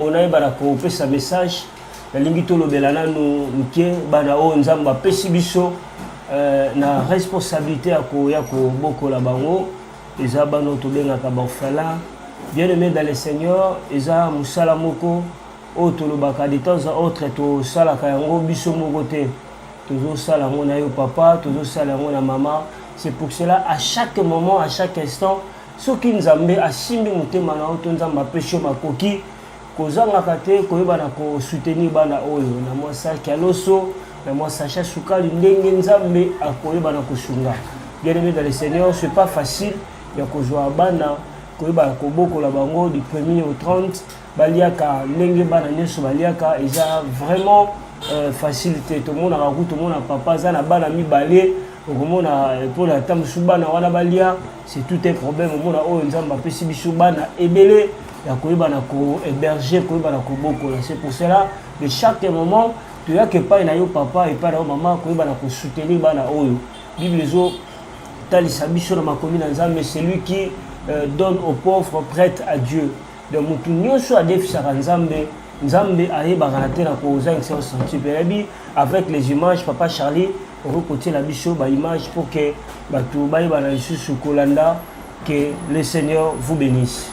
mpo nayeba na kopesa message nalingi tolobela nanu moke bana oyo nzambe apesi biso eh, na responsabilité ya koya kobokola bango eza bana oyo tobengaka baorphelin bien aimé dans le seigneur eza mosala moko oyo tolobaka de temps à autre tosalaka yango biso moko te tozosala yango na yo papa tozosala yango na mama c'est pour cela à chaque moment à chaque instant soki nzambe asimbi motema na yo to nzambe apesi yo makoki kozangaka te koyeba na kosoutenir bana oyo na mwa saki ya loso na mwa sacha sukali ndenge nzambe akoyeba na kosunga bien aimé dans le seigneur c'est pas facile ya kozwa bana koyeba kobokola bango du premier au 30 baliaka ndenge bana nyonso baliaka eza vraiment euh, facile te tomonaka ku tomona papa aza na bana mibale okomona mpona euh, ata mosusu bana wana balia c'est tout un problème omona oyo nzambe apesi biso bana ebele ya koyeba na kohéberger koyeba na kobokola c'est pour cela de chaque moment toyaka epai na yo papa epai na yo mama koyeba na kosoutenir bana oyo bible ezotalisa biso na makomi na nzambe celui qui euh, donne aux pauvres prête à dieu donc motu nyonso adefisaka nzambe nzambe ayebaka na te na kozangisa yo sensible yayebi avec les images papa charlie okoki kotiela biso baimage mpo ke bato bayebana lisusu kolanda ke le seigneur vous bénisse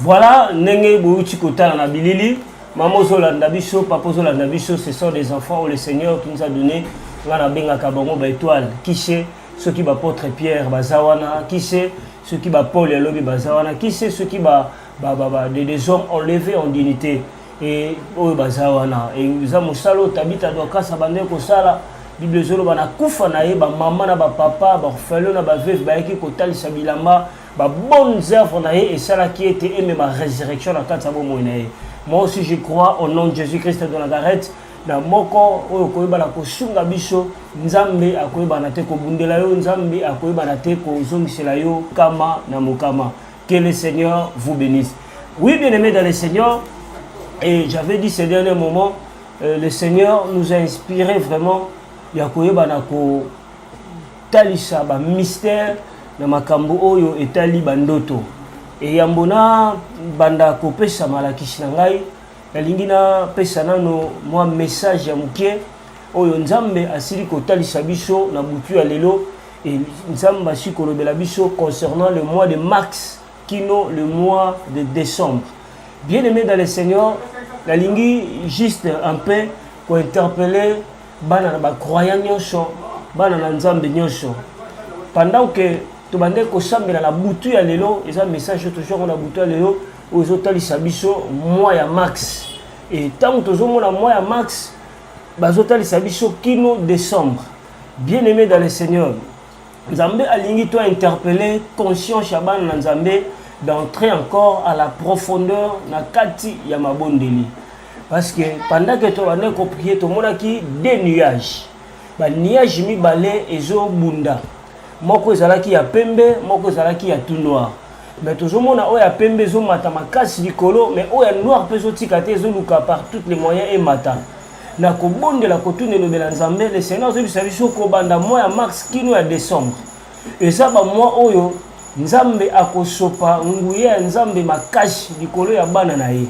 Voilà ndenge bouti kotala na bilili mama ozolanda biso papa ozolanda biso ce sont des enfants où le seigneur qui nous a donné nga nabengaka bango baetoile kishe soki ba apotre pierre baza wana kise soki ba paul ya lobi baza wana kise soki ba, ba, ba, ba des, des hommes enlevés en dignité e oyo baza wana eza mosala oyo tabita dokasa bandeki kosala bible ezoloba na kufa na ye bamama na bapapa baorfelo na baveve bayaki kotalisa bilamba babonne œuvre na ye esalaki ete emema résurrection na kati ya bomoi na ye moi aussi je crois au nom de jésus christ de nazareth na moko oyo koyeba na kosunga biso nzambe akoyeba na te kobundela yo nzambe akoyeba na te kozongisela yo kama na mokama que le seigneur vous bénisse oui bien aimé dans le seigneur et j'avais dit ces derniers moments euh, le seigneur nous a inspiré vraiment ya koyeba na kotalisa bamystère na makambo oyo etali bandoto eyambo na banda kopesa malakisi na ngai nalingi napesa nano mwa message ya moke oyo nzambe asili kotalisa biso na butu ya lelo e nzambe asili kolobela biso concernant le mois de mars kino le mois de décembre bien aimé dans le seigneur nalingi juste un peu kointerpele bana na bacroyant nyonso bana na nzambe nyonso pendant que tobandaki kosambela na butu ya lelo eza message oyo tozwaka na butu ya lelo oyo ezotalisa biso mwa ya max e ntango tozomona mwa ya max bazotalisa biso kino décembre bien aimé dans le seigneur nzambe alingi to interpelle conscience ya bana na nzambe d'entrer encore à la profondeur na kati ya mabondeli parce que pendant que tobandaki koprie tomonaki de nuage baniage mibale ezobunda moko ezalaki ya pembe moko ezalaki ya tout noir mais tozomona oyo ya pembe ezomata makasi likolo mais oyo ya noir mpe ezotika te ezoluka par toutes les moyens emata na kobondela kotuna elobela nzambe le seigneur azobisa biso kobanda mwa ya mars kino ya décembre eza bamwa oyo nzambe akosopa nguya ya nzambe makasi likolo ya bana na ye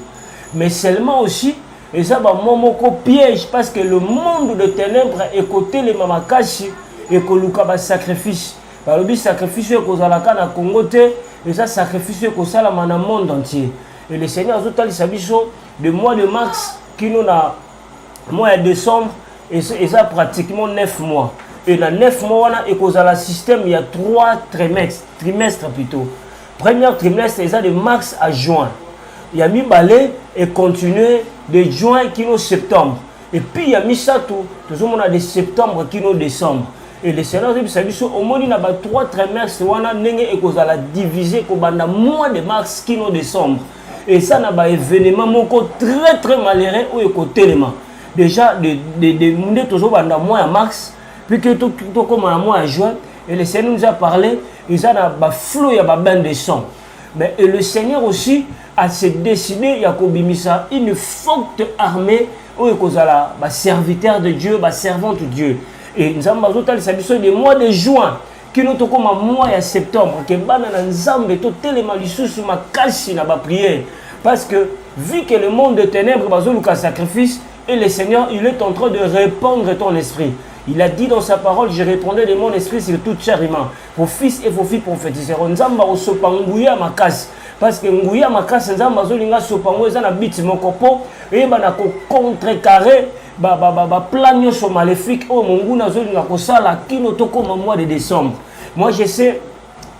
mais seulement aussi eza bamwa moko piège parce que le monde de ténèbre ekotelema makasi ekoluka basacrifice balobi sacrifice oyo ekozalaka na congo te eza sacrifice oyo ekosalama na monde entier et le seigneur azotalisa biso de mois de mars kino na mois ya décembre eza pratiquement 9 mois et na 9 mois wana ekozala système ya 3 trimestre trimestre plutôt première trimestre eza de mars à juin ya mibale econtinue de juin kino septembre Et puis ya misato tozomona de septembre kino décembre et le Seigneur azobisa biso omoni na ba trois trimestres wana ndenge ekozala divise kobanda mois de mars kino décembre et ça na ba événement moko très très malheureux oyo ekotelema déjà de, de, de, nde tozobanda mois ya mars puis que tokoma na mois ya juin et le Seigneur nous a parlé eza na baflot ya babain de sang Mais et le Seigneur aussi a se décidé ya kobimisa une forte armée oyo ekozala ba serviteurs de Dieu, ba servantes de Dieu. Et Nzambe azotalisa biso de mois de juin kino tokoma mois ya septembre ke bana na Nzambe totelema lisusu makasi na ba prières parce que vu que le monde de ténèbres bazoluka sacrifice et le Seigneur il est en train de répandre ton esprit. Il a dit dans sa parole, je répondais de mon esprit sur toute chair humaine. vos fils et vos filles prophétiseront nzambe akosopa nguya makasi parce que nguya makasi nzambe azolinga asopa ngo eza na biti moko mpo eyeba na kocontrecarre baplan nyonso maléfique oyo monguna azolinga kosala kino tokoma mois de décembre moi je sais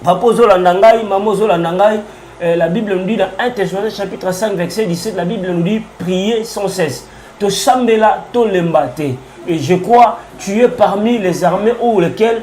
papa ozolanda ngai mama ozolanda ngai euh, la bible nous dit dans 1 thessaloniciens chapitre 5 verset 17 la bible nous dit prier sans cesse tosambela tolemba te et je crois tu es parmi les armées ou lesquelles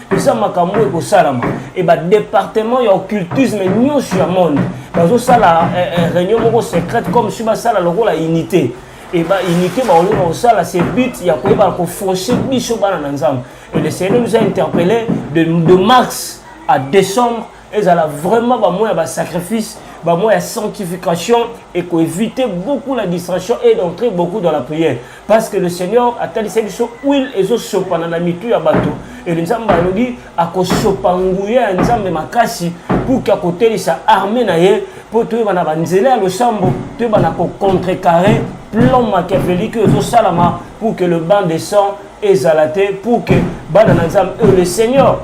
eza makambo oyo ekosalama e badepartement ya occultisme nyonso ya monde bazosala eh, eh, réunion moko secrète comme si basala lokola unité e ba unité bakolinga kosala se but ya koyebana kofauche biso bana na nzambe e le seigneur nous a interpellé de, de mars à décembre ezala vraiment bamwa ya basacrifice bamwa ya sanctification ekoevite beaucoup la distraction et d'entrer beaucoup dans la prière parce que le seigneur atalisa biso huile ezosopana na mitu ya bato ele nzambe alobi akosopa nguya ya nzambe makasi puki akotelisa arme na ye mpo toyeba na banzela ya losambo toyeba na kocontrecarre plan machiavelike ezosalama pour que le banc de sang ezala te pour que bana na nzambe oyo le seigneur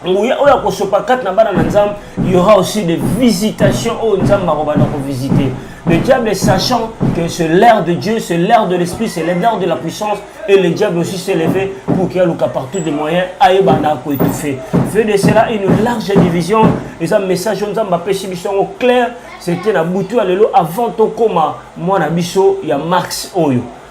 nguya oyo akosopa kati na bana na nzambe y aura aussi des visitations oyo nzambe akobanda kovisite le diable sachant que c'est l'air de dieu c'est l'air de l'esprit c'est l'air de la puissance et le diable aussi s'est levé pour qu'il aluka partout des moyens ayeba na akoétouffe fait de cela une large division eza message oyo nzambe apesi biso yango clair c'était na butu ya lelo avant tokoma mwana biso ya marx oyo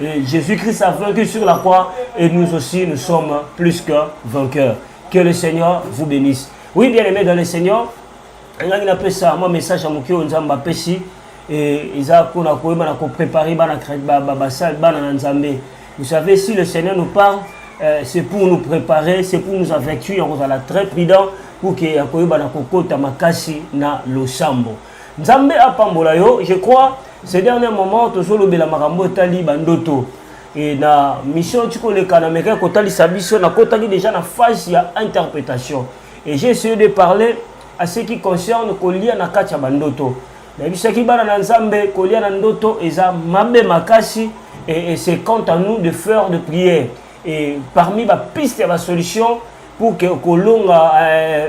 Et Jésus-Christ a vaincu sur la croix et nous aussi nous sommes plus que vainqueurs. Que le Seigneur vous bénisse. Oui, bien aimé dans le Seigneur, ngai napesa mwa message ya moke oyo nzambe apesi eza mpona koyeba na koprépare bana basali bana na nzambe vous savez si le seigneur nous parle euh, c'est pour nous préparer c'est pour nous avertir ya kozala très prudent pour ke ya koyeba na kokota makasi na losambo Nzambe apambola yo, je crois ces derniers moments tozolobela makambo etali bandoto e na mission tikoleka na mekaki kotalisa biso nakotaki déjà na phase ya interprétation et j'ai essayé de parler à ce qui concerne kolia na kati ya bandoto nayebisaki bana na nzambe kolia na ndoto eza mabe makasi et, et c'est quant à nous de faire de prière et parmi bapiste ya basolution pour que kolonga euh,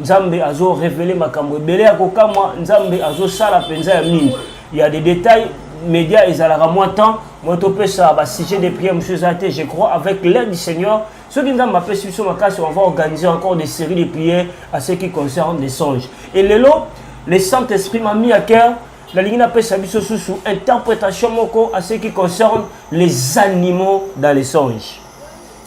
nzambe azo revele makambo ebele ya kokamwa nzambe azosala mpenza ya mingi ya des détails média ezalaka mwa temps moi topesa basujet de prière mosusu eza te je crois avec l'aide du seigneur soki nzambe apesi biso makasi on va organiser encore des séries de prières à ce qui concerne des songes et lelo le saint esprit m'a mis à cœur nalingi napesa biso susu interprétation moko à ce qui concerne les animaux dans les songes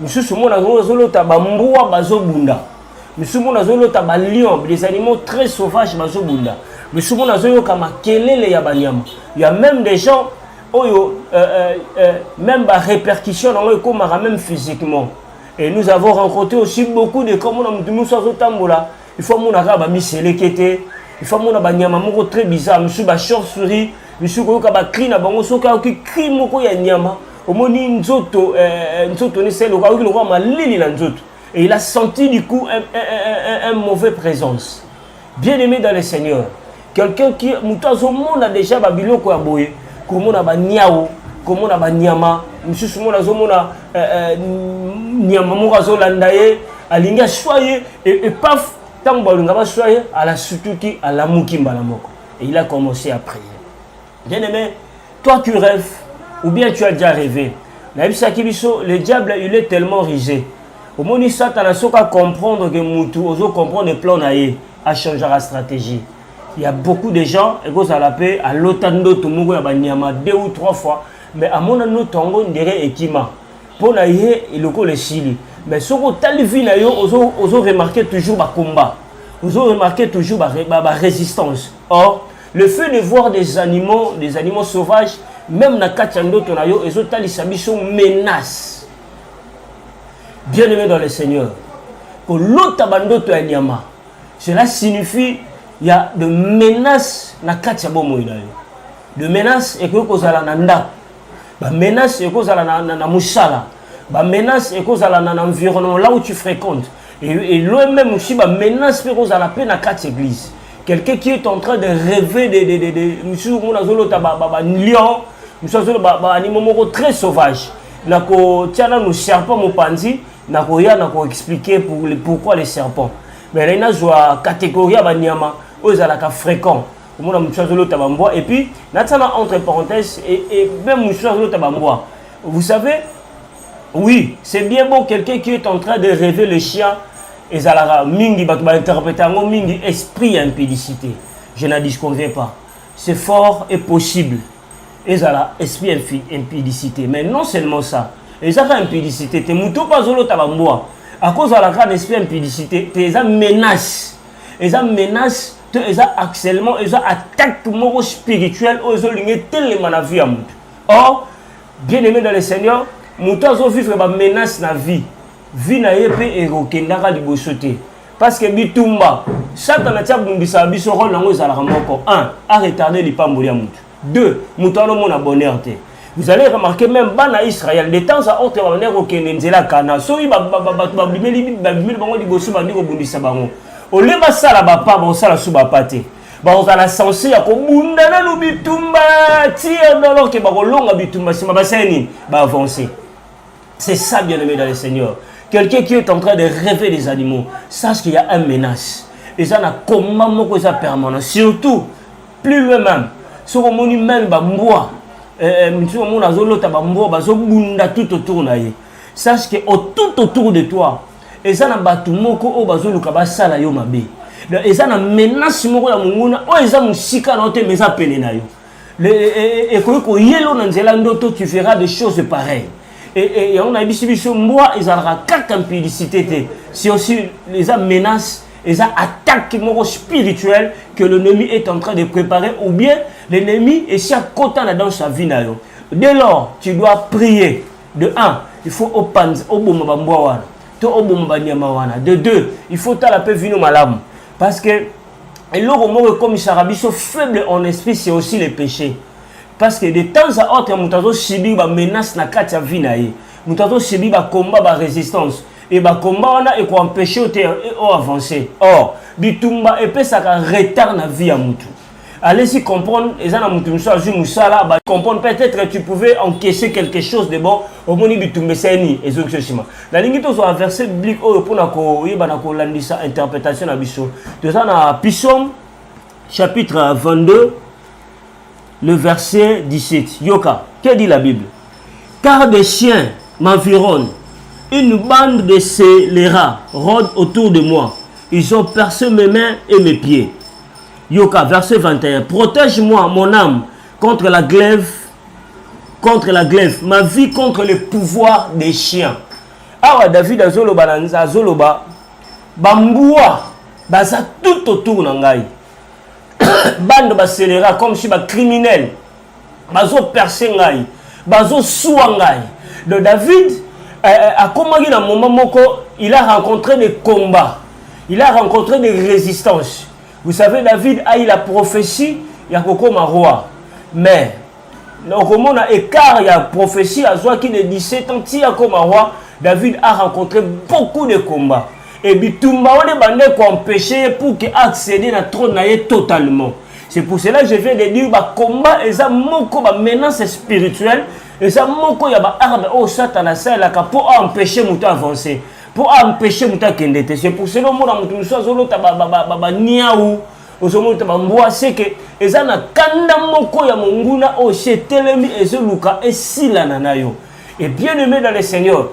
misusu omona yango azolota bambwa bazobunda misusu omona azolota balion des animaux très sauvage bazobunda misusu omona azoyoka makelele ya banyama ya même des gens oyo euh, euh, euh, même barépercussion nango ekomaka même physiquement et nous avons rencontré aussi beaucoup de cas omona motu mosusu azotambola il faut amona kaka bamiseleke te il faut amona banyama moko très bizarre misusu bachauve souris misusu koyoka bacri na bango soki ayoki cri moko ya nyama omoni nzoto eh, eh, nzoto ni selo kaoki lokola malili na nzoto et il a senti du coup un, un, un, un mauvais présence bien aimé dans le seigneur quelqu'un qui moto azomona déjà babiloko ya boye komona baniao komona banyama mosusu mona azomona eh, eh, nyama moko azolanda ye alingi aswa ye epaf ntango balinga baswa ye alasutuki alamuki mbala moko et il a commencé à prier Bien aimé, toi tu rêves ou bien tu as déjà rêvé. Nayebisaki biso le diable il est tellement rusé. Omoni Satana soki a comprendre que mutu ozo comprendre plan na ye, a changera stratégie. Il y a beaucoup de gens ekozala pe alota ndoto moko ya banyama deux ou trois fois mais amona ndoto yango ndere ekima mpo na ye lokola esili mais soki otali vie na yo ozo, ozo remarquer toujours bacombat ozo remarquer toujours barésistance ba, ba or Le fait de voir des animaux, des animaux sauvages, même na kati ya ndoto na yo ezotalisa biso menace. Bien aimé dans le Seigneur, kolota bandoto ya nyama, cela signifie il y a de menaces na kati ya bomoi na yo. De menaces ekoki kozala na ndako, ba menaces ekoki kozala na, na, na mosala, ba menaces ekoki kozala na, na environnement là où tu fréquentes, et, et loin même aussi ba menaces mpe kozala mpe na kati ya église. quelqu'un qui est en train de rêver de, de, de, de mosusu omona azolota balion mosusu azoloba baanimo moko très sauvage nakotia nanu serpent mopanzi nakoya nakoexplike pour, pourquoi les serpents mais nai nazwa catégorie ya banyama oyo ezalaka fréquent omona mosusu azolota bambwa et puis natia na entre parenthèse et, et même mosusu azolota bambwa vous savez Oui, c'est bien beau quelqu'un qui est en train de rêver le chien ezalaka mingi bato ba interprète yango mingi esprit ya impudicité. Je n'en disconviens pas. C'est fort et possible. Ezala esprit infi- impudicité. Mais non seulement ça. Ezaka impudicité te moto mpe azolota bambwa akozala kaka na esprit ya impudicité te eza menace eza menace to eza harcèlement eza attaque moko spirituelle oyo ezolinga etelema na vie ya moto or Bien aimé dans le Seigneur, moto azo vivre ba menace na vie. Vie na ye pe ekokendaka liboso te. Parce que bitumba, Satana tia bundisa biso rôle nango ezalaka moko. 1, a retarder lipamboli ya moto. 2, moto alomona bonheur te. Vous allez remarquer même bana Israël de temps à autre babandaki kokende nzela kana soki bato babimeli babimeli bango liboso bandi kobundisa bango olie basala bapa bakosala su bapa te bakozala sense ya kobunda nanu bitumba ti alors ke bakolonga bitumba nsima basala nini baavance c'est ça bien aimé dans le seigneur quelqu'un qui est en train de rêver des animaux sache qu'il y a un menace eza na combat moko eza permanent surtout plus loin même soki omoni meme bambwa eh, eh, mosusu omona azolota bambwa bazobunda tout autour na ye sache que tout autour de toi eza na bato moko oyo bazoluka basala yo mabe eza na menace moko ya monguna oyo eza mosika na yo te ma eza pene na yo e, e, e, ekoki koyelo na nzela ndoto tu verras des choses pareilles yango nayebisi biso mbwa ezalaka kaka mpidisite te si aussi eza menace eza attaque moko spirituelle que l'ennemi est en train de préparer ou bien l'ennemi esi akota na dans sa vie na yo dès lors tu dois prier de un il faut opanza oboma bambwa wana to oboma banyama wana de deux il faut otala mpe vino malamu parce que eloko moko ekomisaka biso faible en esprit c'est aussi le péché parce que de temps à autre moto azosubir bamenace na kati ya vie na ye moto azosubir bacombat barésistance e bacombat wana ekoempeshe yo te oavance or bitumba epesaka retard na vie ya motu Allez-y comprendre, et ça, mutu musu azui musala, ba comprendre peut-être tu pouvais encaisser quelque chose de bon, au moni bitumbe seni, et zo kishima. La ligne to zo a verset biblique oyo pona ko yeba na ko landisa interprétation na biso. To za na Psaume chapitre 22 le verset 17. Yoka, que dit la Bible Car des chiens m'environnent, une bande de scélérats rôde autour de moi. Ils ont percé mes mains et mes pieds. Yoka, verset 21. Protège-moi, mon âme, contre la glaive, contre la glaive, ma vie contre le pouvoir des chiens. Awa David azoloba na nza azoloba bambua baza tout autour na ngai. Bande baselera comme si ba criminel bazo percer ngai, bazo sua ngai. Donc David euh, euh akomaki na moment moko il a rencontré des combats, il a rencontré des résistances. Vous savez, David a eu la prophétie ya kokoma roi. Mais, okomona écart ya prophétie qui de 17 ans ti akoma roi, David a rencontré beaucoup de combats. Et bitumba wana ebanda ekoempêche pour que accéder na trône na ye totalement. C'est pour cela que je viens de dire ba combat eza moko ba menace spirituelle eza moko ya ba arme oyo Satan asalelaka mpo aempêche moto avancer. mpo aempeshe moto akende te c'est pour cela omona moto mosusu azolota baniau ozomona bambwa seke eza na kanda moko ya monguna oyo si etelemi ezoluka esilana na yo et bien aimé dans le seigneur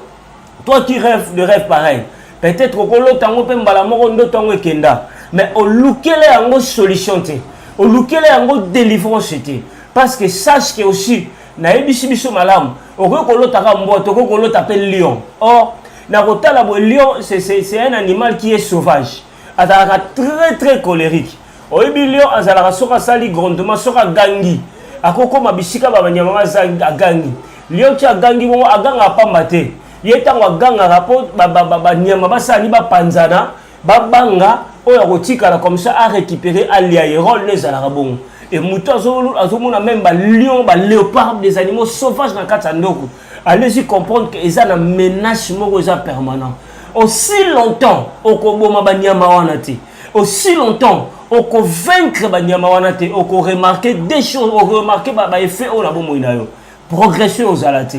toi qui rêve de rêve pareil peut-être okolota yango mpe mbala moko ndoto yango ekenda mais olukela yango solution te olukela yango délivrance te parce que sache que aussi nayebisi biso malamu okoki kolota kaka mbwa te okoki kolota mpe lion or na kotala boye lion c'est un animal qui est sauvage azalaka très très colérique oyebi lion azalaka soki asali grondement soki agangi akokoma bisika babanyama baza agangi lion ti agangi bongo agangaka pamba te ye ntango agangaka mpo banyama basala ni bapanzana babanga oyo akotikala comme ça a récupérer alia ye role n'ezalaka bongo e moto azomona meme balion baleopard des animaux sauvage na kati ya ndoko allez-y comprendre que eza na menace moko eza permanent aussi longtemps okoboma banyama wana te aussi longtemps okovaincre banyama wana te okoremarke des choses okoremarke baeffet oyo na bomoi na yo progression ozala te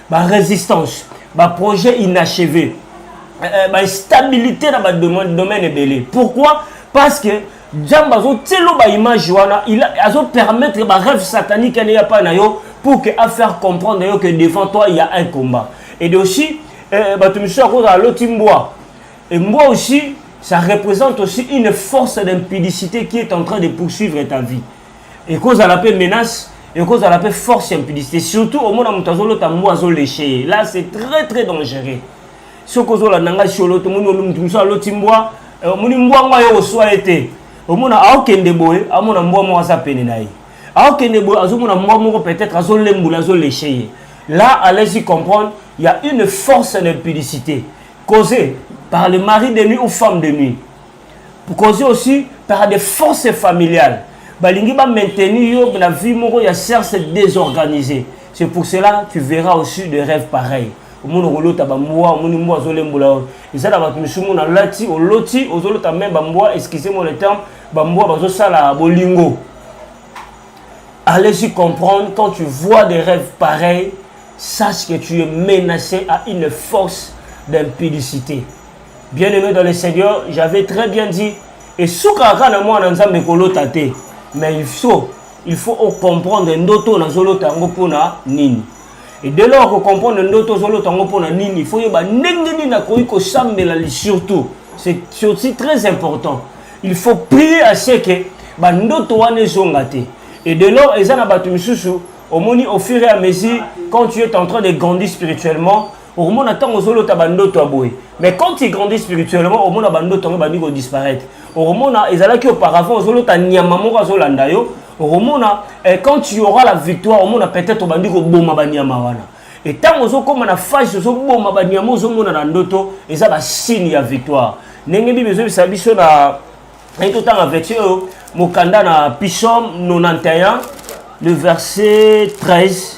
barésistance baprojet inachevé eh, eh, bainstabilité na badomaine ebele pourquoi parce que nzambe azotielo baimage wana azopermettre barêve satanique ane yapa na yo pour que afaire comprendre yo que devant toi il y a un combat et de aussi eh, bato misusu akozala loti mbwa et mbwa aussi ça représente aussi une force d'impudicité qui est en train de poursuivre ta vie ekozala mpe menace ekozala mpe force ya impudicité surtout omona moto azolota mbu azoleshe ye là c'est très très dangereux soki ozolanda ngai siolo tomoni moto mosusu aloti mbwa eh, omoni mbwa yango aye oswa ye te omona aokende boye amona mbwa moko aza pene na ye aokende boye azomona mbwa moko peut-être azolembula azoleshe ye là allez-y comprendre il y a une force d'impudicité causée par le mari de nuit ou femme de nuit cause aussi par des forces familiales balingi ba maintenir yo na vie moko ya cerce désorganisé c'est pour cela tu verras aussi des rêves pareils omoni okolota bambwa omoni mbwa azolembola yo eza na bato misumu na lati oloti ozolota meme bambwa excuse moi le terme bambwa bazosala bolingo allez-y comprendre quand tu vois des rêves pareils sache que tu es menacé à une force d'impudicité Bien aimé dans le Seigneur, j'avais très bien dit et suka aka na mwana nzambe kolota te mais il faut il faut ocomprendre ndoto oyo nazolota yango mpona nini e de lors kocomprendre ndoto ozolota yango mpona nini il faut yeba ndenge nini nakoki kosambela surtout c'est aussi très important il faut prier à ce que bandoto wana ezonga te e de lors eza na bato misusu omoni au fur et à mesure quand tu es en train de grandir spirituellement okomona ntango ozolota bandoto ya boye mais quand tu grandis spirituellement omona bandoto yango ebandi kodisparaître okomona ezalaki auparavant ozolota nyama moko azolanda yo okomona eh, quand tu auras la victoire omona peut-être obandi koboma banyama wana e ntango ozokóma na phase ozoboma banyama ozomona na ndoto eza basigne ya victoire ndenge bible ezobisa biso na naye totanga version oyo mokanda na psaume 91 le verset 13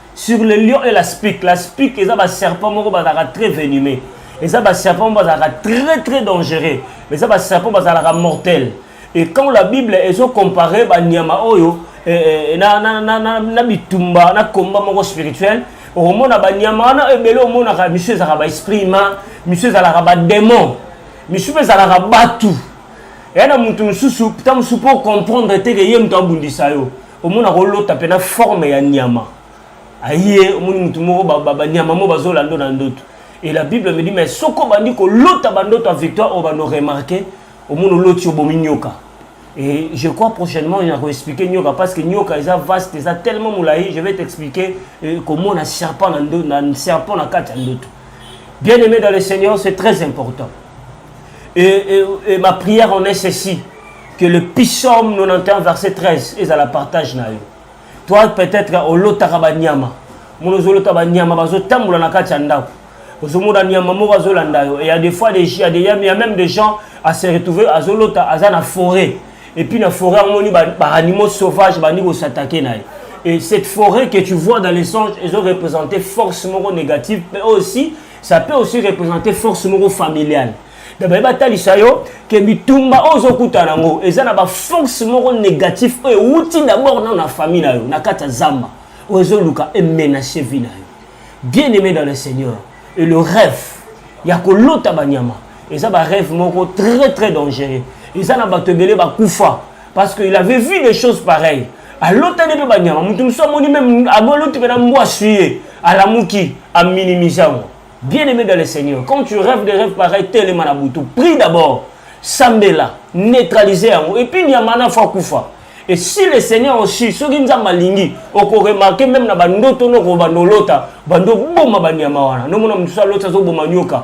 sur le lion et la spique la spique eza baserpent moko bazalaka très venimé eza baserpent moko bazalaka très très dangereux mais eza baserpent bazalaka mortel et quand la bible ezo compare banyama oyo eh, eh, eh, na, na, na, na, na bitumba na komba moko spirituel okomona banyama wana ebele omonaka misu ezalaka baesprit ma misu ezalaka bademon misu mpe ezalaka batu eya na moto mosusu ntango mosusu mpo comprendre te ke ye moto abundisa yo omona kolota mpe na forme ya nyama aye omoni motu moko banyama moko bazolando na ndoto et la bible me dit mais soki obandi kolota bandoto ya victoire oyo bando remarke omoni oloti obomi nyoka et je crois prochainement na koexplike nyoka parce que nyoka eza vaste eza tellement molai je vais t'expliquer euh, komona serpent na serpent na kati ya ndoto bien aimé dans le seigneur c'est très important Et, et, et ma prière en est ceci que le psaume 91 verset 13 est à la partage na yo. Toi peut-être olotaka ba nyama. Mon ozolota ba nyama bazo tambola na kati ya ndako. Ozomona nyama moko azolanda yo. Et il y a des fois des il y a des il y a même des gens à se retrouver azolota aza na forêt. Et puis na forêt amoni ba, ba animaux sauvages bandi ko s'attaquer na ye. Et cette forêt que tu vois dans les songes, ils ont représenté force moko négative, mais aussi ça peut aussi représenter force moko familiale donc baye batalisa yo ke bitumba oyo ozokutana yango eza na baforce moko négatif oyo ewuti d'abord nano na famille na yo na kati ya zamba oyo ezoluka emenace vie na yo bien aimé dans le seigneur et le rêve ya kolota banyama eza barêve moko très très dangereux eza na bato ebele bakufa parce que il avait vu des choses pareilles alotani mpe banyama moto mosusu amoni meme aboloti mpe na mbwa aswi ye alamuki aminimise yango bien aimé dans le seigneur quand tu rêves des rêves pareil telema na butu prie d'abord sambela neutralise yango epuis nyama na fo akufa et si le seigneur osi soki nzambe alingi okoremarke meme na bandoto nokobanda olota bando oboma banyama wana nomona mosusu aloti azoboma nyoka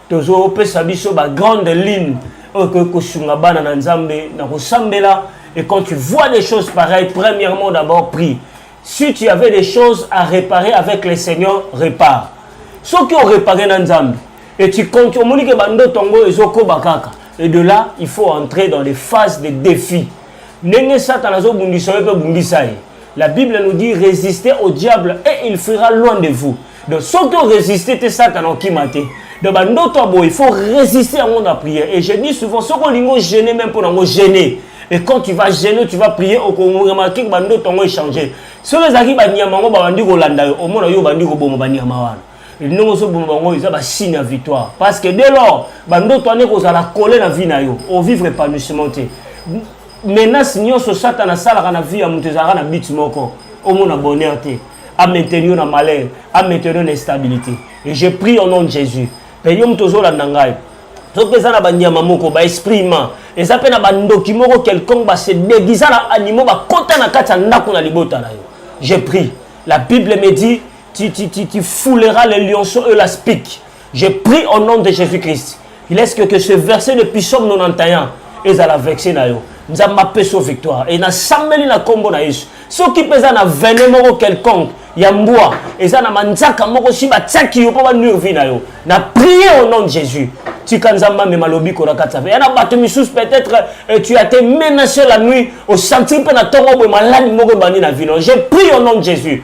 tozo pesa biso ba grande ligne oyo ekoki kosunga bana na nzambe na kosambela et quand tu vois des choses pareilles premièrement d'abord prie si tu avais des choses à réparer avec le seigneur répare soki orepare na nzambe et tu compte omoni ke bandoto yango ezokoba kaka et de là il faut entrer dans les phases de défis ndenge satana azobundisa yo mpe bundisa ye la bible nous dit résistez au diable et il fuira loin de vous donc soki oresiste te satana okima te donc bandoto ya boye il faut résister yango na prière et je dis souvent soki olingi ogene même mpo nango gene et quand tu vas gene tu vas prier okoremarke bandoto yango echange soki ezalaki banyama yango babandi kolanda yo omona yo obandi koboma banyama wana ndenge ozoboma bango eza basigne ya victoire parce que dès lors bandoto wana ekozala kole na vie na yo ovivre épanouissement te menace nyonso satana asalaka na vie ya moto ezalaka na bit moko omona bonheur te a maintenir yo na malheur a maintenir yo na instabilité et je prie au nom de Jésus mpe yo moto ozolanda ngai soki mpe eza na banyama moko baesprit humain eza mpe na bandoki moko quelconque base deguisa na animaux bakota na kati ya ndako na libota na yo je prie la bible me dit tu, tu, tu, tu fouleras les lionceaux et la spique Je prie au nom de Jésus-Christ. Il est que, que ce verset de Psaume 91 ezala vexe na yo. Nzambe apesa victoire. Et nasambeli na kombo na Yesu. Soki peza na vene moko quelconque ya mbwa eza na manzaka moko si batiaki yo mpo banure vi na yo na prie au nom de jésus tika nzambe amema lobiko na kati ya ya na bato misusu peut-être eh, tu as te menacé la nuit osentir mpe na ntongo boye maladi moko ebandi na vino je prie au nom de jésus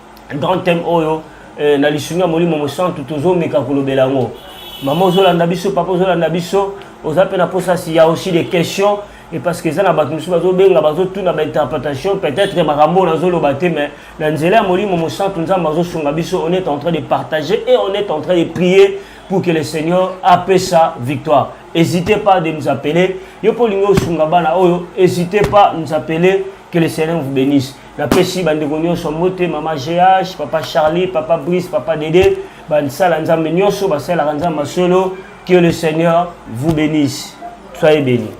grand thème oyo eh, na lisungi ya molimo mosantu tozomeka kolobela yango mama ozolanda biso papa ozolanda biso oza mpe na mposa si ya aussi des questions et parce que eza na bato mosusu bazobenga bazotuna bainterprétation peut-être makambo oyo nazoloba te mais na nzela ya molimo mosantu nzambe azosunga biso on est en train de partager et on est en train de prier pour que le seigneur apesa victoire hésitez pas de nous appeler yo mpo olingi osunga bana oyo hésitez pas nous appeler que le seigneur vous bénisse napesi bandeko nyonso mbote mama gh papa charlie papa brice papa dede bansala nzambe nyonso basalaka nzambe masolo que le seigneur vous bénisse soyez bénis